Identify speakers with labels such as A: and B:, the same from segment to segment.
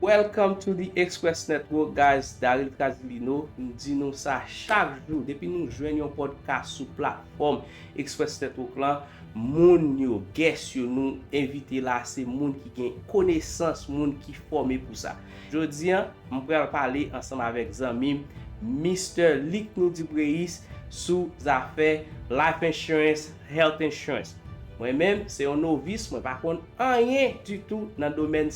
A: Welcome to the Express Network guys Daryl Trazilino m di nou sa chak jou depi nou jwenn yon podcast sou platfòm Express Network lan moun yo guest yo nou envite la se moun ki gen konesans moun ki fòme pou sa jodi an m pral pale ansanm avèk zanmim Mister Likni Dupreis sou zafè Life Insurance Health insurance. Mwen menm se yon novice mwen pa konn anyen ditou nan domèn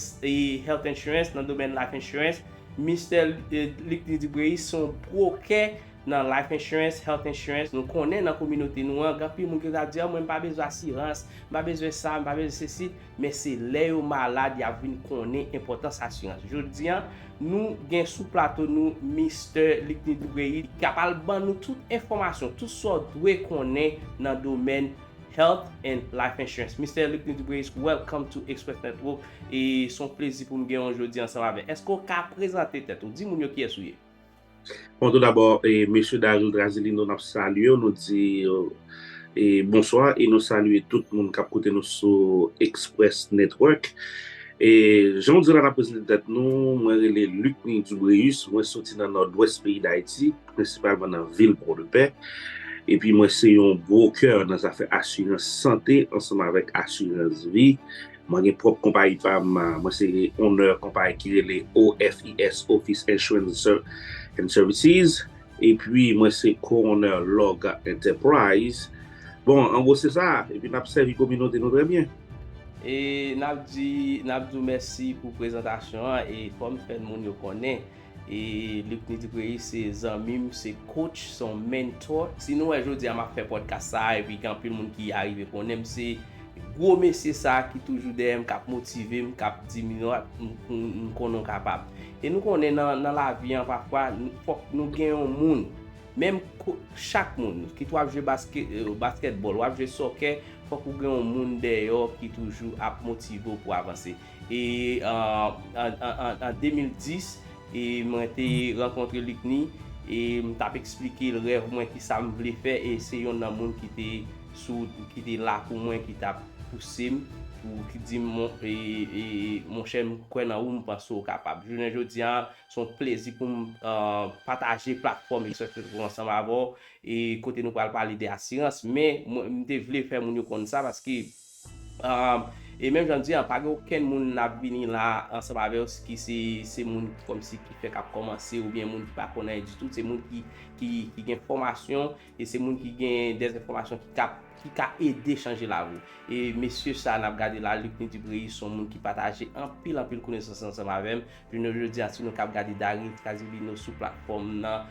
A: health insurance nan domèn life insurance Mister Luckny Dubreuil se yon brokè nan life insurance health insurance nou konnen nan kominote nou an gen anpil moun ki ta di an mwen m pa bezwen asirans m pa bezwen sa m pa bezwen sesi Men se lè yo malad y ap vin konnen enpòtans asirans. Jodi a, nou gen sou plato nou Mistè Likni Dubreuil ki ap al ban nou tout enfòmasyon, tout sa w dwe konnen nan domèn Health and Life Insurance. Mistè Likni Dubreuil, welcome to Express Network. E s on plezi pou m genyen w jodi ansanm avè. Èske w ka prezante tèt ou? Di moun yo kiyès ou ye. Bon tout
B: dabò mesye Dajou Drazilino nap salyew nou di bonswa e nou salye tout moun kap koute nou sou Express Network e janw di la nap prezante tèt nou mwen rele Lucny Dubréus mwen soti nan Nòdwès peyi Dayiti prensipalman nan vil Pòdepè epi mwen se yon broker nan zafè asirans sante ansanm avèk asirans vi Mwen gen pwòp konpayi pa m, mwen se onè konpayi ki rele OFIS, Office Insurance and Services, epi mwen se ko-onè Log Enterprise. Bon, an gwo se sa, epi n ap sèvi kominote nou trè byen. E n
A: ap di, n ap di w mèsi pou prezantasyon an, e kòm fè moun yo konnen. Lucny Dupreyis se zanmi m, se coach, se yon mentor. Si nou wè jodi a m ap fè podcast sa a epi gen anpil moun ki arive konnen m, se gwo mesye sa a ki toujou dèyè m, k ap motive m, k ap di m, m konnen w kapab. E nou konnen nan lavi an pafwa fòk nou gen yon moun, menm chak moun, kit w ap jwe baskètbòl, w ap jwe sòkè, fòk ou gen yon moun dèyè w ki toujou ap motive w pou w avanse. E an 2010 e mwen te rankontre Luckny e m t ap eksplike l rèv mwen ki sa m vle fè e se yon nan moun ki te sou ki te la pou mwen ki t ap pouse m pou ki di m e monchè m kwè nan ou m panse ou kapab. Jounen jodi a se yon plezi pou m pataje platfòm Express Metrô Pro ansanm avè w e kote nou pral pale de asirans men m te vle fè moun yo konn sa paske E menm jan m di an, pa gen okenn moun n ap vini la ansanm avè yo ki se moun kòmsi ki fèk ap kòmanse oubyen moun ki pa konn anyen ditou. Se moun ki gen fòmasyon e se moun ki gen dèzenfòmasyon ki ka ede chanje lavi. E mesye sa a n ap gade la, Lucny Dubreuil, se yon moun ki pataje anpil anpil konesans ansanm avè m. Jounen jodi a, si nou ka ap gade Darius Casilino sou platfòm m nan,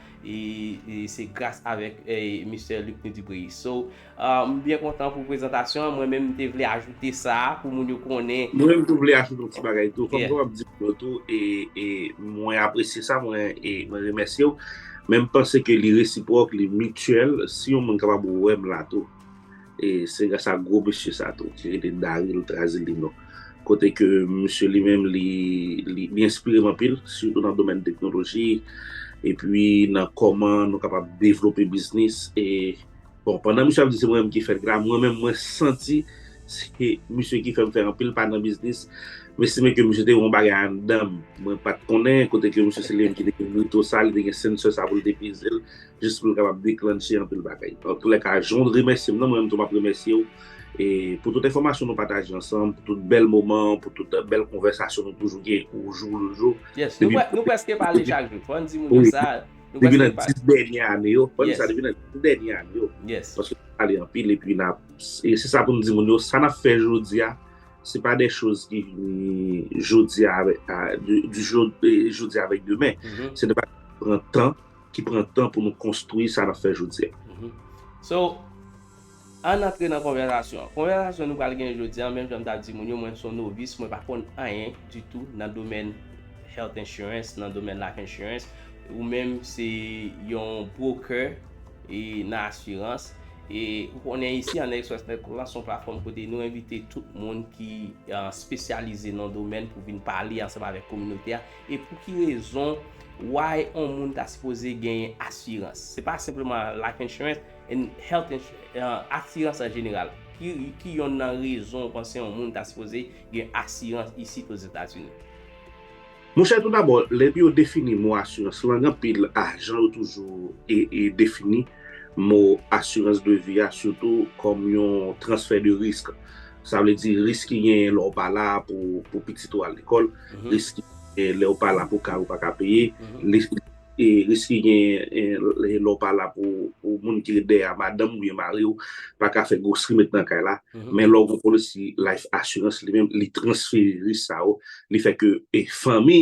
A: se gras avèk Mistè Lucny Dubreuil. So, M byen kontan pou prezantasyon an. Mwen menm m te vle ajoute sa a pou moun yo konnen. Mwen menm tou vle ajoute yon
B: ti bagay tou. Kòm m konn w ap di moun yo tou e e mwen apresye sa, mwen e mwen remèsye w. Men m panse ke li resipwòk, li mityèl. Si yon moun kapab wè m la tou e se gras a gwo mesye sa tou ki rele Daril Trazilino. Kote ke misye li menm li li li enspire m anpil sitou nan domèn teknoloji epi nan kòman nou kapab devlope biznis e Bon pandan misye ap di se mwen menm ki fèt la mwen menm mwen santi se misye ki fèm fè anpil pa nan biznis mesi men ke misye te gen yon bagay anndanm mwen pat konnen kote ke misye se li menm ki te gen brito sa li te gen sensè sa pou li te pezel jis pou l kapab deklannche anpil bagay antoulèka jan w remèsye m nan mwen menm tou map remèsye w pou tout enfòmasyon nou pataje ansanm pou tout bèl moman pou tout bèl konvèsasyon nou toujou gen oujou lejou. Yes nou preske
A: pale chak jou fòn di moun yo sa. Nou Depi nan pral 10
B: dènye ane yo, ban nou sa, Yes. depi nan 10 dènye ane yo, Yes. paske nou pale
A: anpil
B: epi na, e se sa pou nou di moun yo, sa nap fè jodi a, se pa de choz ki vini jodi a, avè- a, du, du jo- e, jodi a avèk demen, Mhm. se de bagay ki pran tan, ki pran tan pou nou konstwi sa nap fè jodi a. Mhm. So,
A: Ann antre nan konvèsasyon an. Konvèsasyon nou pral gen jodi an, menm jan m t ap di moun yo, mwen son novis, mwen pa konn anyen ditou nan domèn Health Insurance, nan domèn Life Insurance. Ou menm se yon broker e nan asirans. E ou konnen isi an Next West Network la se yon platfòm kote nou envite tout moun ki spesyalize nan domèn pou vin pale ansanm avèk kominote a. E pou ki rezon, why yon moun ta sipoze genyen asirans. Se pa senpleman Life Insurance. And health insurance, asirans an jeneral. Ki yonn nan rezon ou panse yon moun ta sipoze gen asirans isit Ozetazini? Monchè
B: toudabò, lè yo defini mo asirans lang anpil ajan yo toujou defini mo asirans de vi a sitou kòm yon transfè de risk. Sa vle di risk ki genyen lè ou pa la pou pitit ou al lekòl, risk ki genyen lè ou pa la pou kay ou pa ka peye, E risk ki genyen lè w pa la pou moun ki ret dèyè a, madanm ou byen mari w, pa ka fè gwo streamet nan kay la. Men lè w gen policy life assurance li menm, li transfere risk sa yo, li fè ke fanmi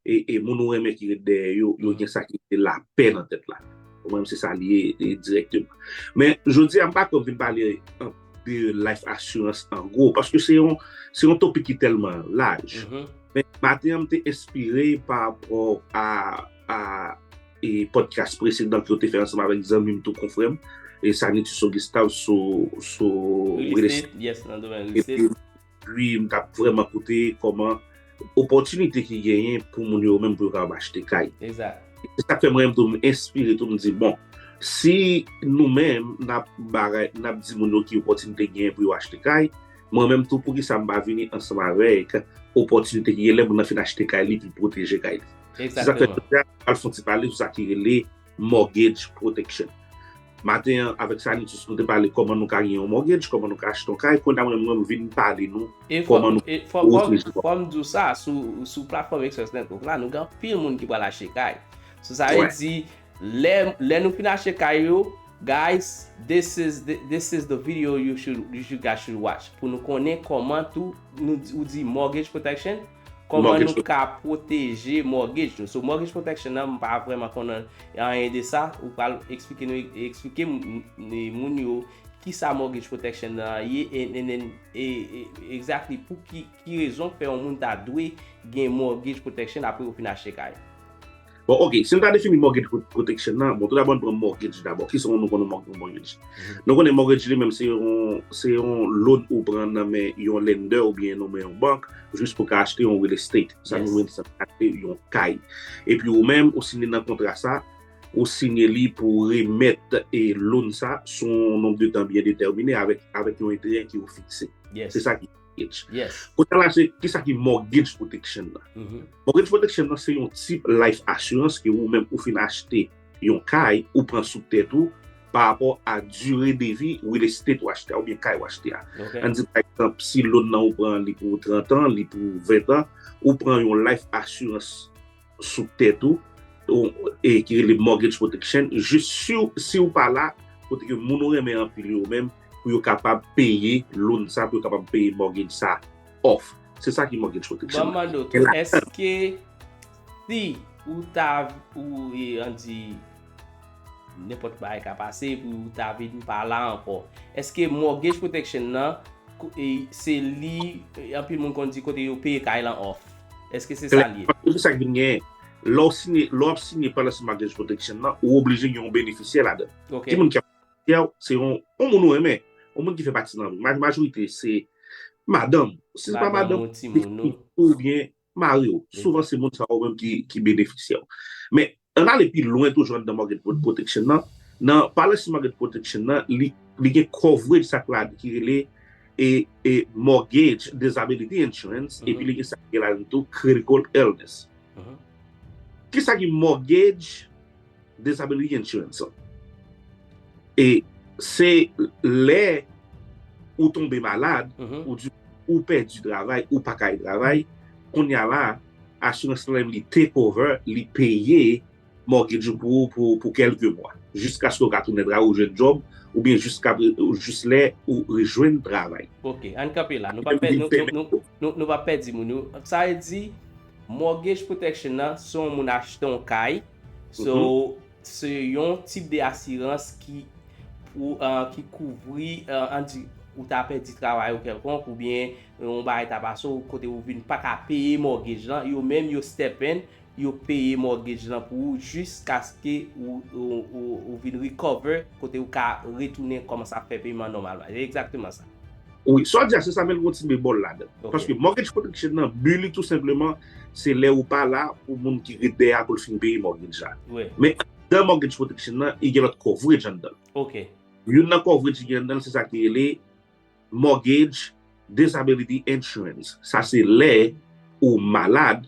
B: e moun ou renmen ki ret dèyè yo, yo gen sa ki rele lapè nan tèt la. Ou konprann? Se sa li ye direkteman. Men, jodi a m pa kwè m fin pale anpil. de life assurance an gwo, paske se yon topik ki telman laj. Men, maten an m te espire pa rapò a podcast presedan ki yo te fè ansanm avèk zanmi m tou konfrèm, Sanitiso Gustave sou real
A: estate. Yes, nan domèn real estate. Ui m
B: tap vreman koute koman opotinite ki genyen pou moun yo menm pou yo kapab achte kay. Exact. Se sak
A: fè mwen menm tou m
B: enspire tou m di bon si nou menm nap bagay nap di moun yo ki opotinite genyen pou yo achte kay mwen menm tou poukisa m pa vini ansanm avek opotinite ki gen lè moun nan fin achte kay li pou l pwoteje kay li. Se sak fè Exactement. jodi a
A: nou pral fon ti
B: pale sou sa ki rele Mortgage protection Maten an avèk Sanitus nou te pale kòman nou ka gen yon mortgage, kòman nou ka achte yon kay, kounya mwen menm vin pale nou kòman nou ka
A: pwoteje kò nou. Fò m di w sa, sou platfòm Express Network la nou gen anpil moun ki pral achte kay. So sa vle di lè nou fin achte kay yo, guys this is this is the video you should you guys should watch pou nou konnen kòman tou ou di mortgage protection, Koman nou ka pwoteje mortgage nou. So mortgage protection nan m pa vreman konnen anyen de sa. Ou pral eksplike nou eksplike moun yo kisa mortgage protection nan ye e exactly pou ki rezon fè yon moun ta dwe gen mortgage protection apre yo fin achte kay. Bon ok,
B: si nou ta defini mortgage protection nan, bon tout dabò nou pran mortgage dabò. Ki sa nou konnen mortgage? Nou konnen mortgage li menm se yon loan ou pran nan men yon lender ou byen nan men yon bank jis pou ka achte yon real estate. Sa nou menm se achte yon kay. E pi ou menm ou siyen nan kontra sa, ou siyen li pou remèt e loan sa sou yon nom de tan byen determine avèk yon enterè ki ou fikse. Se sa ki. Kote
A: la se, kisa ki
B: mortgage protection la? Mortgage protection la se yon tip life assurance ke ou menm ou fin achte yon kay ou pran sou tèt ou pa rapò a dure de vi real estate ou achte a ou byen kay ou achte a. An di pa ekzanp si loan nan ou pran li pou 30 an, li pou 20 an, ou pran yon life assurance. sou tèt ou, e ki rele mortgage protection, jis si ou pa la, kote ke moun ou renmen anpil yo menm, pou yo kapab peye loan sa, pou yo kapab peye mortgage sa off. Se sa ki mortgage protection. Mwen mande ou tou, eske
A: si ou ta, ou e an di... Nenpòt bagay ka pase epi ou ta vin pa la ankò. Eske mortgage protection nan se li anpil moun konn di kote yo peye kay lan off? Eske se sa l ye? Epi sa k vin genyen,
B: lè w siyen, lè w ap siyen policy mortgage protection nan, ou oblije gen yon benefisyè ladan. Ki moun ki ap benefisyè w? Se yon moun ou renmen, yon moun ki fè pati nan vi w. Majorite se madanm ou. Si se pa madanm ou, se pitit ou oubyen Mari w, souvan se moun sa yo menm ki benefisye w. Men, ann ale pi lwen toujou anndan Mortgage Fraud Protection nan, nan Policy Mortgage Protection nan, li gen coverage sa ki rele Mortgage Disability Insurance epi li gen sa ki rele la dan tou Critical Illness. Kisa ki Mortgage? Disability insurance lan. E se lè ou tonbe malad, ou di ou pèdi travay, ou pa ka al travay, kounye a la, assurance lan li take over, li peye mortgage ou pou ou pou kèlke mwa. Jiskaske ou ka tounen travay, ou jwenn job, oubyen jis lè ou rejwenn travay. Ok, ann kanpe la.
A: Nou pa pèdi moun yo. Sa vle di. Mortgage protection nan se yon moun achte yon kay, so se yon tip de asirans ki pou ki kouvri an di ou ta pèdi travay ou kèlkonk oubyen yon bagay ta pase ou kote ou vin paka peye mortgage lan yo menm yo step in yo peye mortgage lan pou ou jiskaske ou vin recover kote ou ka retounen kòmanse ap fè peyman nòmalman e egzakteman sa. Wi, sa w di a se
B: sa men l gen yon ti bemòl ladan l. Paske mortgage protection nan bi li tou senpleman se lè ou pa la pou moun ki ret dèyè a pou l fin peye mortgage la. Men anndan mortgage protection nan li gen lòt coverage anndan l. Youn
A: nan coverage
B: ki gen anndan l se sa ki rele mortgage disability insurance. Sa se lè ou malad.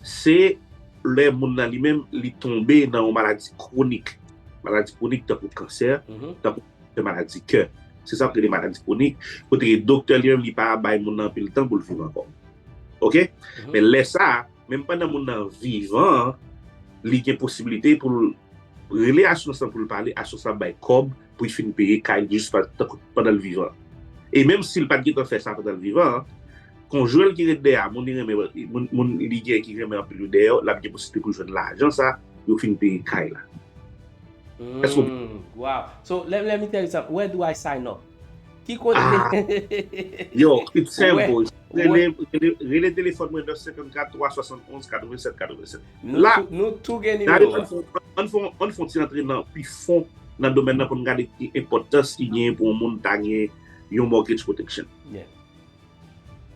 B: Se lè moun nan li menm li tonbe nan yon maladi kwonik. Maladi kwonik tankou kansè, tankou kèk maladi kè. Se sa yo rele maladi kwonik. Kote ke doktè li menm li pa bay moun nan anpil tan pou l viv ankò. Ok? Men lè sa, menm pandan moun nan vivan an, li gen posiblite pou l rele asirans lan pou l pale, asirans lan ap bay kòb pou l fin peye kay li jis pandan l vivan. E menm si l pa t gen tan fè sa pandan l vivan an, Konjwen ki ret dèyè a, moun li renmen, moun li gen ki renmen anpil yo dèyè yo, l ap gen posiblite pou l jwenn lajan sa yo fin peye kay la. Èske w konprann?
A: Wow! So, lè m enterese sa, where do I sign up? Ki kote?
B: Yo, it's simple. Rele telefòn mwen 954 371 87 87. La, nou tou gen nimewo
A: a.
B: Ann fon ti antre nan pi fon nan domèn nan pou n gade ki enpòtans ki genyen pou yon moun ta gen yon mortgage protection.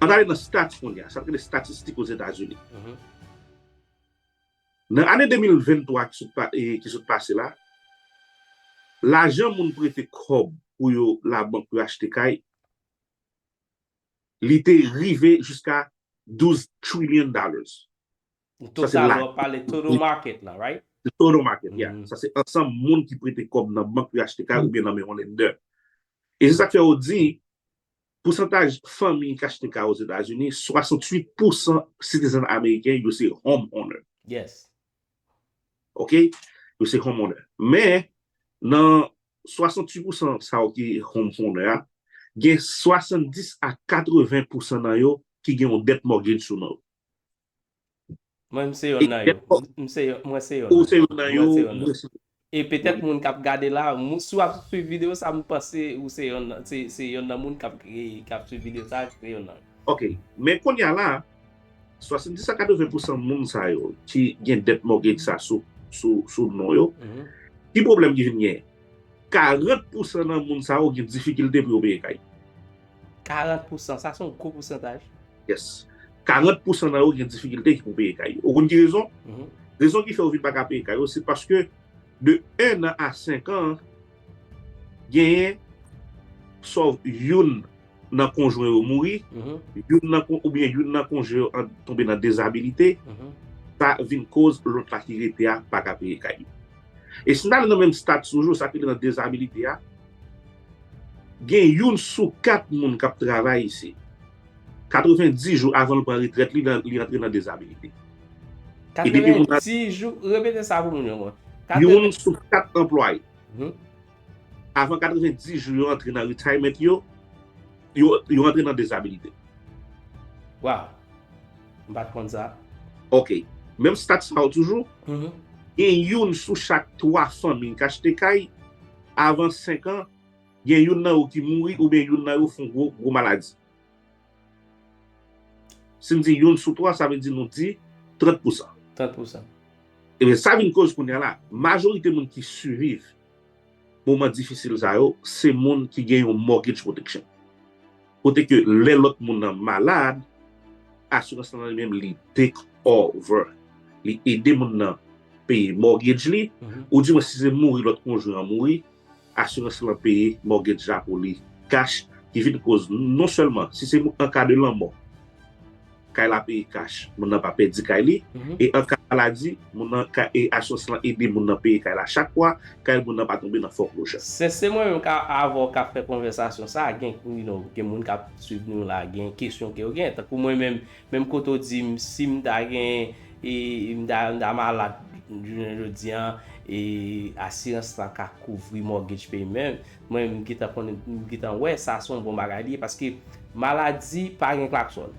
B: An n ale nan stats kounye a, sa n rele statistik Ozetazini. Nan ane 2023 ki sot pase la, lajan moun prete kòb pou yo labank pou yo achte kay, li te rive jiska 12 trillion dollars. Total la,
A: w ap pale total market la, right? Total market,
B: yeah. Sa se ansanm moun ki prete kòb nan bank pou yo achte kay oubyen nan men yon lender. E se sa k fè ou di, Pousantaj fanmi ki achte kay Ozetazini, 68 pousan citizen ameriken yo se home owner. Yes. Ok, yo se home owner. Men, nan 68 pousan sa yo ki home owner a, gen 70 a 80 pousan nan yo ki gen yon debt mortgage sou non yo.
A: Mwen m se yonn nan yo. M se yonn mwen se yonn. Ou se yonn nan yo,
B: mwen se. E petèt
A: moun kap gade la, si wap swiv video sa m panse ou se yonn nan se yonn nan moun kap kap swiv video sa se yonn nan yo. Ok, men konnya
B: la, 70 a 80 pousan moun sa yo ki gen debt mortgage sa sou non yo, ki pwoblèm ki vin genyen? 40 pousan nan moun sa yo gen difikilte pou yo peye kay. 40
A: pousan, sa son
B: gwo pousantaj. Yes. 40 pousan nan yo gen difikilte pou peye kay yo. Ou konn ki rezon? Rezon ki fè yo vin pa ka peye kay yo, se paske de 1 an a 5 an, genyen sov youn nan konjwen yo mouri, oubyen youn nan konjwen yo tonbe nan dezabilite, sa vin koz lòt la ki rete a pa ka peye kay li. E si n ale nan menm stat toujou, sa ki nan dezabilite a, Gen youn sou kat moun k ap travay isit. 90 jou avan l pran retrèt li, li antre nan dezabilite. E depi
A: moun nan. 90 jou, repete sa pou moun yo konprann. Youn sou
B: kat anplwaye. Avan 90 jou yo antre nan retirement yo, yo antre nan dezabilite.
A: Waw! M pa t konn sa. Ok.
B: Menm stat sa yo toujou, gen youn sou chak 3 fanmi k achte kay avan 5 an, gen youn nan yo ki mouri oubyen youn nan yo fon gwo, gwo maladi. Si n di youn sou 3, sa vle di nou di 30 pousan. 30
A: pousan. Ebyen,
B: sa vin koz kounya la, majorite moun ki siviv moman difisil sa yo, se moun ki gen yon mortgage protection. Kote ke lè lòt moun nan malad, asirans lan li menm li take over. Li ede moun nan peye mortgage li, ou di mwen si se mouri lòt konjwen an mouri, asirans lan peye mortgage la pou li cash ki vin koz non sèlman si se an ka de lanmò. kay la peye kach, moun nan pa pèdi kay li, e an ka maladi, moun nan ka e asirans lan ede moun nan peye kay la chak mwa, kay moun nan pa tonbe nan fòklojè. Sese mwen menm ka
A: avè w kap fè konvèsasyon sa a gen you no gen moun kap swiv nou la gen kesyon ke yo gen tankou mwen menm menm kote w di m si m ta gen e m ta m ta malad jounen jodi an e asirans la ka kouvri mortgage payment Mwen menm m gentan konnen m gentan wè sa son bon bagay li ye paske maladi pa gen klaksòn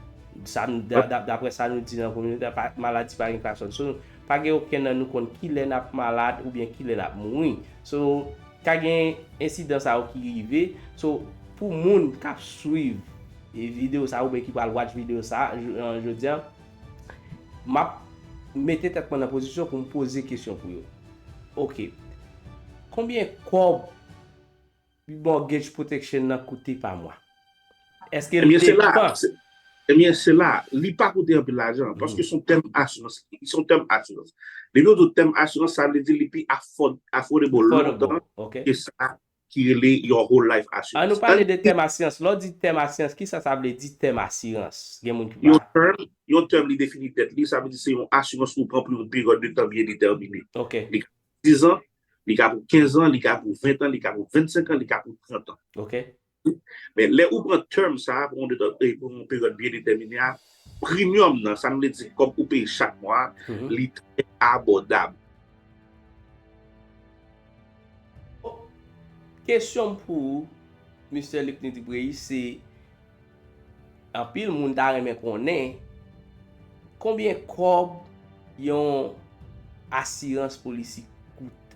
A: sa n daprè sa nou di nan kominote a maladi pa gen klaksòn so pa gen okenn nan nou konn kilè n ap malad oubyen kilè n ap mouri so ka gen ensidan sa yo ki rive so pou moun k ap swiv videyo sa oubyen ki pral watch videyo sa jodi a m ap mete tèt mwen nan pozisyon pou m poze kesyon pou yo. Ok. Konbyen kòb mortgage protection nan koute pa mwa? Eske l depan? Ebyen
B: se la, li pa koute anpil lajan, paske son tèm asirans, son tèm asirans. Depi yo di w tèm asirans, sa vle di li pi affordable lontan ke sa
A: ki
B: rele Your Whole Life Assurance. An nou pale de tèm asirans.
A: Lè w di tèm asirans, ki sa sa vle di tèm asirans? Gen moun ki pa.
B: Yon tèm li defini tèt li, sa vle di se yon asirans ou pran pou yon peryòd de tan byen detèmine. Li ka pou
A: 10 an,
B: li ka pou 15 an, li ka pou 20 an, li ka pou 25 an, li ka pou 30 an.
A: Men lè
B: ou pran tèm sa a pou yon peryòd byen detèmine a, Premium nan, sa vle di kòb ou peye chak mwa a, li trè abòdab.
A: Kesyon m pou ou Mister Luckny Dupreyi se anpil moun ta renmen konnen konbyen kòb yon asirans polisi koute?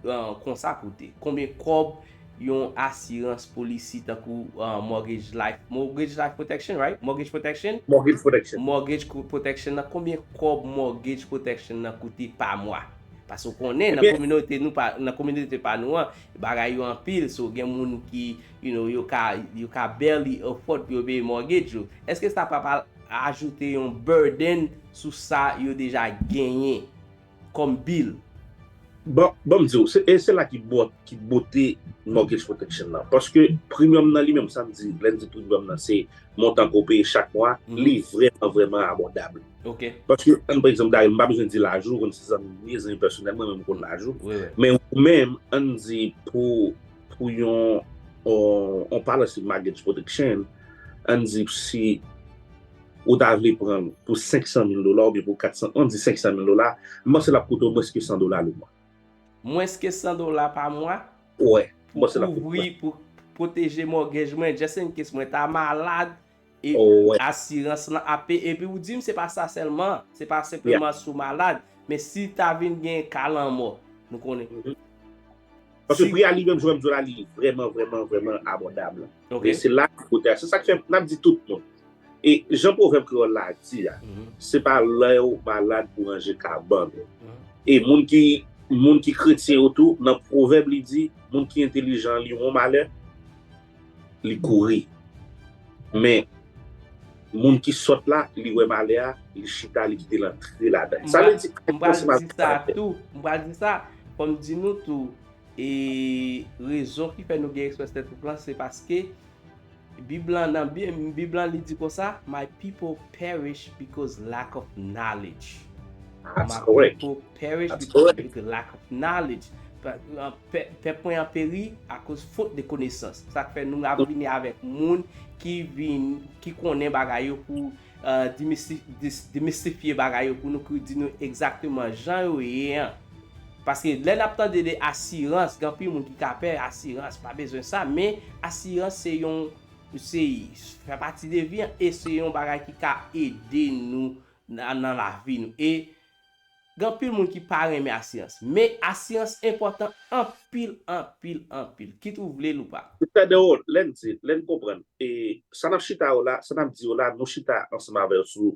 A: Konsa koute konbyen kòb yon asirans polisi tankou Mortgage Life Mortgage Life Protection right? Mortgage Protection? Mortgage Protection. Mortgage Protection nan konbyen kòb Mortgage Protection nan koute pa mwa? Pase ou konnen nan kominote nou nan kominote pa nou an bagay yo anpil so gen moun ki you know yo ka yo ka barely afford pou yo peye mortgage yo. Eske sa pap al ajoute yon burden sou sa yo deja genyen? Kòm Bill. Bon,
B: ban m di w, e se la ki bòt, ki bote mortgage protection nan. Paske premium nan li menm, sa m di, lè n di premium nan se montan ke w peye chak mwa, li vrèman vrèman abòdab. Ok. Paske,
A: an n pran egzanp
B: Daryl, m pa bezwen di laj ou, ou konn se zanmi m ye, zanmi pèsonèl mwen, men m konn laj ou. Wi, wi. Men ou menm, an n di pou yon, yon policy mortgage protection, an n di si. Ou ta vle pran l pou 500 mil dola oubyen pou 400, an di 500 mil dola, m panse l ap koute w mwens ke 100 dola le mwa. Mwens ke
A: 100 dola pa mwa? Wè, m panse
B: l ap koute w.
A: Pou pwoteje mògej mwen, just in case mwen ta malad, e asirans lan ap peye. Epi ou di m se pa sa sèlman, se pa senpleman si w malad, men si ta vin gen ka lanmò, nou konnen.
B: Paske pri a li menm jwèm zola li vrèman vrèman vrèman abòdab. Men se la ki kote a. Se sa ki fè m ap di tout moun. E jan pwovèb kreyòl la di a, se pa lè ou malad pou ranje kabann ou. E moun ki moun ki kretyen yo tou, nan pwovèb li di, moun ki entelijan li won malè. Li kouri. Men, moun ki sòt la, li wè malè a, li chita, li kite l antre ladan l. Sa vle di, M pral di sa tou.
A: M pral di sa. Fò m di nou tou, e rezon ki fè nou gen eksperyans tètwoule lan, se paske Bib lan, nan Bib lan li di konsa, My people perish because lack of knowledge. That's
B: correct. My people Perish
A: because of the lack of knowledge, pèp mwen an peri akoz fot de konesans, sa k fè nou ap vini avèk moun ki vin, ki konnen bagay yo pou demystifye bagay yo pou nou, pou di nou egzakteman jan yo ye an, paske lè n ap tande de asirans, gen anpil moun ki ka pè asirans, pa bezwen sa, men asirans se yon, se fè pati de vi an, e se yon bagay ki ka ede nou nan lavi nou, e Gen anpil moun ki pa renmen asirans, men asirans enpòtan anpil, anpil, anpil, kit ou vle l ou pa. Li fè de ou, lè n
B: di, lè n konprann, e sa n ap chita yo la, sa n ap di yo la, nou chita ansanm avè yo sou,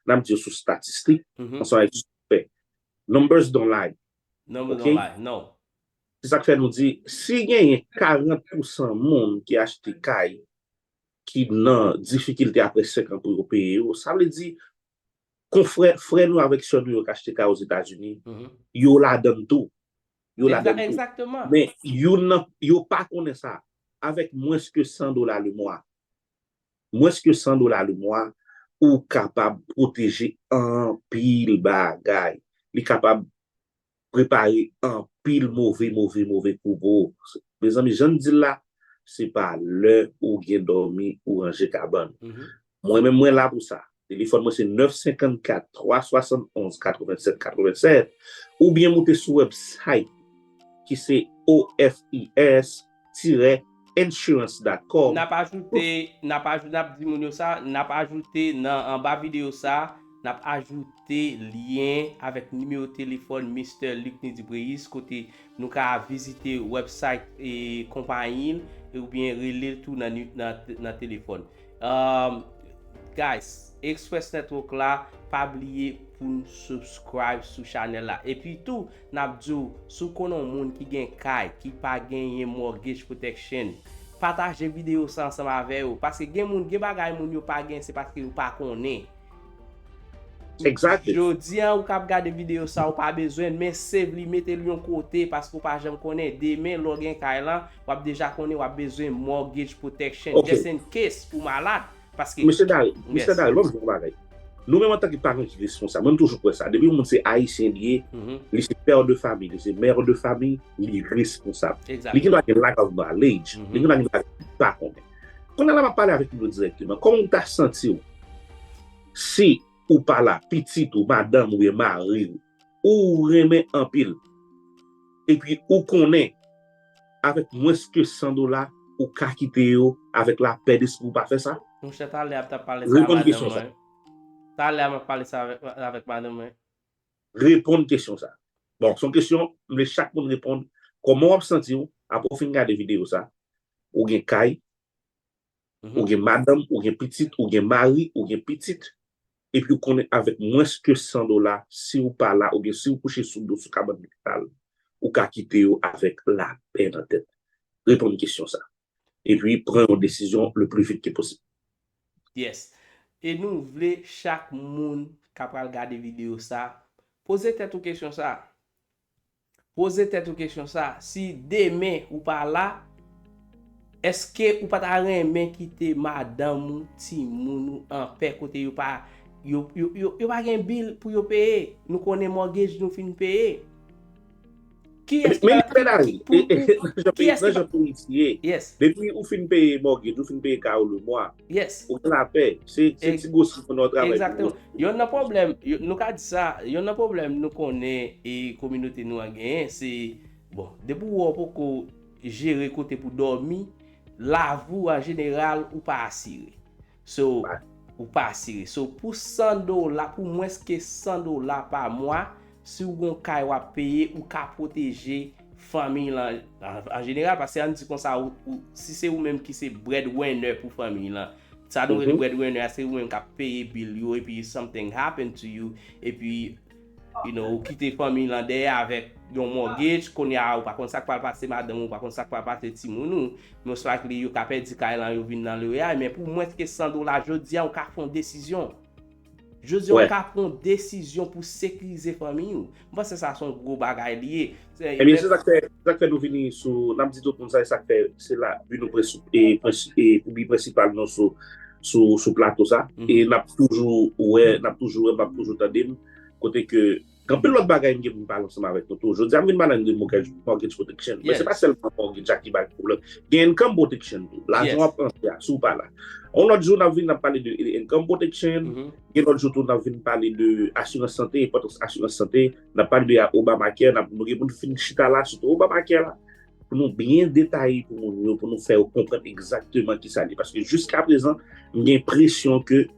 B: n ap di yo sou statistik, ansanm avè yo sou fè. Numbers don't lie. Numbers don't lie, no.
A: Se
B: sa k fè nou di, si genyen 40 pousan moun ki achte kay ki nan difikilte apre 5 an pou yo peye yo, sa vle di Konfrè, frè nou avèk sè nou yo k achte kay Ozetazini, yo ladan l tou. Yo ladan l
A: tou. Men, youn
B: nan, yo pa konnen sa. Avèk mwens ke 100 dola lemwa, mwens ke 100 dola lemwa, ou kapab pwoteje anpil bagay. Li kapab prepare anpil move move move kou pou ou mezanmi jan n di l la se pa lè ou gen dòmi ou ranje kabann mwen menm mwen la pou sa telefòn mwen se 9 54 3 71 87 87 oubyen moute sou wèbsayt ki se OFIS. tire insurance dot com. Nap ajoute,
A: nap ajoute, nap di moun yo sa, nap ajoute nan anba video sa, nap ajoute lyen avèk nimewo telefòn Mister Lucny Dubreuis kote nou ka vizite website konpayi l oubyen rele l tou nan telefòn. Umm guys express network la pa bliye pou nou subscribe sou chanel la epi tou nap diw si w konnen yon moun ki gen kay ki pa genyen mortgage protection pataje video sa ansanm avè yo paske gen moun gen bagay moun yo pa gen se paske yo pa konnen Exactly.
B: Jodi an ou kap gade
A: video sa ou pa bezwenl men save li metel yon kote paske ou pa janm konnen demen lè w gen kay lan wap deja konnen wap bezwen mortgage protection just in case ou malad paske Mesye Dary, Misye Dary lòm
B: di yon bagay Nou menm antanke paran ki responsab mwen m toujou kwè sa depi yon moun se ayisyen li ye li se père de famille li se mère de famille li responsab li gendwa gen lack of knowledge li gendwa gen bagay li pa konnen Kounye a la map pale avèk nou dirèkteman kòman ou ta santiw si ou pa la pitit ou madanm oubyen mariw ou renmen anpil epi ou konnen avèk mwens ke 100 dola ou ka kite yo avèk lapè despri ou pa fè sa? Monchè talè a m tap
A: pale sa a madanm mwen talè a map pale sa a avèk madanm mwen. Reponn
B: kesyon sa a. Bon son kesyon m vle chak moun reponn kòman wap santiw aprè ou fin gade video sa ou gen kay, Ou gen madanm, ou gen pitit, ou gen mari, ou gen pitit, epi ou konnen avèk mwens ke 100 dola, si ou pa la oubyen si ou kouche sou do sou kabann lopital, ou ka kite yo avèk lapè nan tèt. Reponn kesyon sa. Epi pran yon desizyon le pli vit ke posib. Yes.
A: E nou vle chak moun ka pral gade video sa, poze tèt ou kesyon sa. Poze tèt ou kesyon sa, si demen ou pa la, èske ou pa ta renmen kite madanm ou, timoun ou anpè kote yo pa yo yo yo pa gen bill pou yo peye, nou konnen mortgage nou fin peye. Kiyès ki Men pa yon bèl avi, pou pou nan jan peyi kiyès nan ki pa jan
B: peyi ti ye, Yes. depi ou fin peye mortgage, ou fin peye kay ou lemwa, Yes. Ou gen lapè.
A: Se
B: ti gosi pou nou travay. Exactement. Yon nan problem,
A: nou ka di sa, yon nan problem nou konnen e kominote nou an genyen, se, bon, depi ou wè ou poko jere kote pou dòmi, lavi ou an jeneral ou pa asire. So, ou pa asire. So, pou 100 dola, pou mwens ke 100 dola pa mwa, si ou gen yon kay wap peye, ou ka pwoteje. fanmiy lan an jeneral paske an di konsa ou si se ou menm ki se bread winner pou fanmiy lan sa nou rele bread winner se ou menm kap peye bil yo epi something happen to you epi you know ou kite fanmiy lan dèyè avèk yon mortgage kounye a ou pa konn sak pral pase madanm ou pa konn sak pral pase timoun ou most likely yo ka pèdi kay lan yo vin nan loyay men pou mwens ke 100 dola jodi a ou ka fon desizyon. Jodi a ou ka pran yon desizyon pou sekirize fanmiy ou. M panse sa son gwo bagay li ye. Ebyen se sak fè,
B: se sak fè nou vini sou, nap di tout moun sa e sak fè se la bi nou pou bi prensipal nou sou sou plato sa e nap toujou wè, nap toujou wè, nap toujou tande m kote ke. Gen anpil lòt bagay m gen pou m pale ansanm avèk nou tou. Jodi a m vin pale ann de mortgage protection. Men se pa sèlman mortgage a ki bay pwoblèm. Gen income protection tou. Lajan w ap rantre a, si w pa la. Yon lòt jou n ap vin n ap pale de income protection. Gen lòt jou tou n ap vin pale de asirans sante, enpòtans asirans sante. N ap pale de Obamacare. N ap nou gen pou nou fin chita la sou Obamacare la pou nou byen detaye pou moun yo, pou nou fè yo konprann egzakteman ki sa li ye. Paske jiskaprezan m gen presyon ke.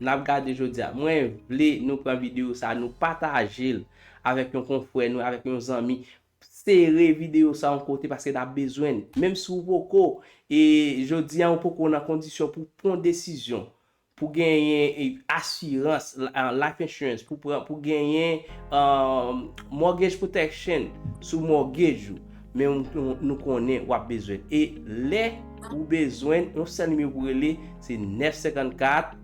A: Nap gade jodia. Mwen vle nou pran video sa nou patajel avek yon konfrè nou avek yon zanmi sere video sa yon kote paske nap bezwenn menm si ou poko e jodia ou poko nan kondisyon pou pwan desizyon pou genyen asirans life insurance pou pran pou genyen mortgage protection sou mortgage ou Men nou konnen wap bezwen l. E lè ou bezwen l, yon sèl nimewo pou rele, se 954.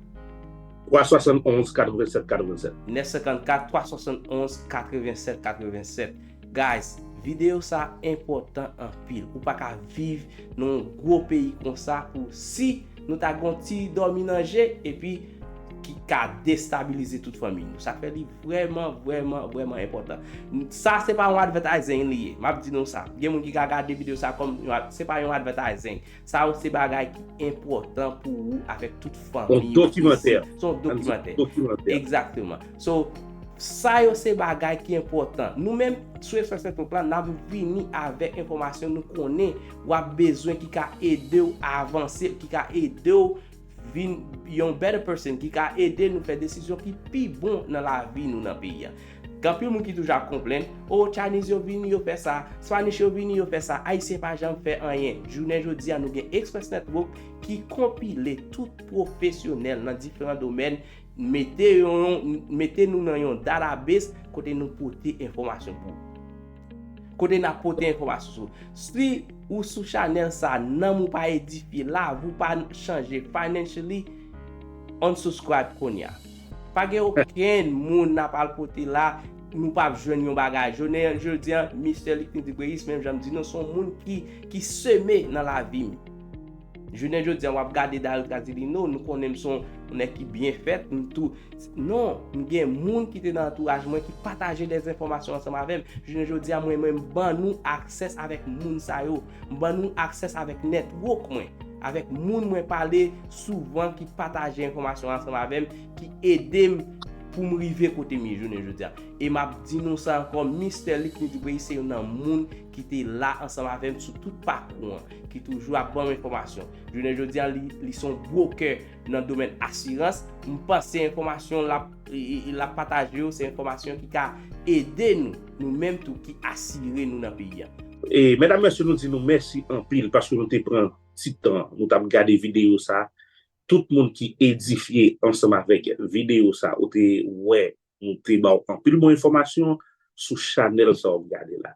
A: 371 87 87. 954
B: 371 87 87.
A: Guys, videyo sa enpòtan anpil. Ou pa ka viv nan yon gwo peyi konsa pou si nou ta gen yon ti dòmi nan je epi ki ka destabilize tout fanmi nou. Sa fè li Vrèman, vrèman, vrèman enpòtan. Sa se pa yon advertising li ye. Map di nou sa. Gen moun ki ka gade video sa kòm yon ad, se pa yon advertising. Sa yo se bagay ki enpòtan pou ou avèk tout fanmi. Son dokimantè. Son dokimantè. Son dokimantè. Exactement. So, sa yo se bagay ki enpòtan. Nou menm, sou Espresso Technique la, nap vini avèk enfòmasyon nou konnen wap bezwen ki ka edew avanse, ki ka edew. vin yon better person ki ka ede nou fè desizyon ki pi bon nan lavi nou nan peyi an. Gen anpil moun ki toujou ap konplenn, oh Chinese yo vini yo fè sa, Spanish yo vini yo fè sa, Ayisyen pa janm fè anyen. Jounen jodi a nou gen Express Network ki konpile tout pwofesyonèl nan diferan domèn, mete nou nan yon database kote nou pote enfòmasyon pou ou. Kote nap pote enfòmasyon sou. Si ou sou chanèl sa nanm ou pa edifye lavi ou pa chanje financially unsubscribe kounya. Pa gen okenn moun nap al pote la nou pap jwenn yon bagay. Jounen jodi an Mister Luckney Dubreuis menm jan m di nou son moun ki seme nan lavi m. Jounen jodi a wap gade Daryl Casilino, nou konnen m son nèg ki byen fèt, m tou, non, m gen moun ki te nan antouraj mwen ki pataje dè enfòmasyon ansanm avè m, jounen jodi a mwen menm m ban nou aksès avèk moun sa yo, m ban nou aksès avèk network mwen, avèk moun mwen pale souvan ki pataje enfòmasyon ansanm avè m, ki ede m pou m rive kote m ye jounen jodi a. E map di nou sa ankò, Mister Luckny Dupreyis se youn nan moun ki te la ansanm avè m sou tout pakou an. ki toujou ap banm enfòmasyon. Jounen jodi an li son brokè nan domèn asirans, m panse enfòmasyon l ap pataje yo se enfòmasyon ki ka ede nou, nou menm tou ki asire nou nan peyi an. E medam mesye
B: nou di nou mèsi anpil paske nou te pran ti tan nou tap gade video sa tout moun ki edifye ansanm avèk video sa ou te wè nou te baw anpil bon enfòmasyon sou chanèl sa wap gade la.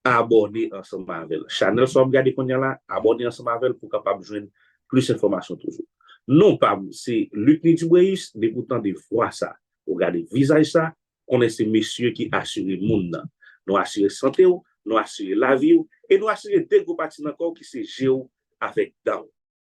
B: abòne ansanm avèl chanèl sa wap gade kounya la abòne ansanm avèl pou kapab jwenn plis enfòmasyon toujou non pam se Lucny Dubréus depi ou tande vwa sa ou gade vizaj sa konnen se mesye ki asire moun nan nou asire santew nou asire laviw e nou asire de gwo pati nan kòw ki se jew avèk danw.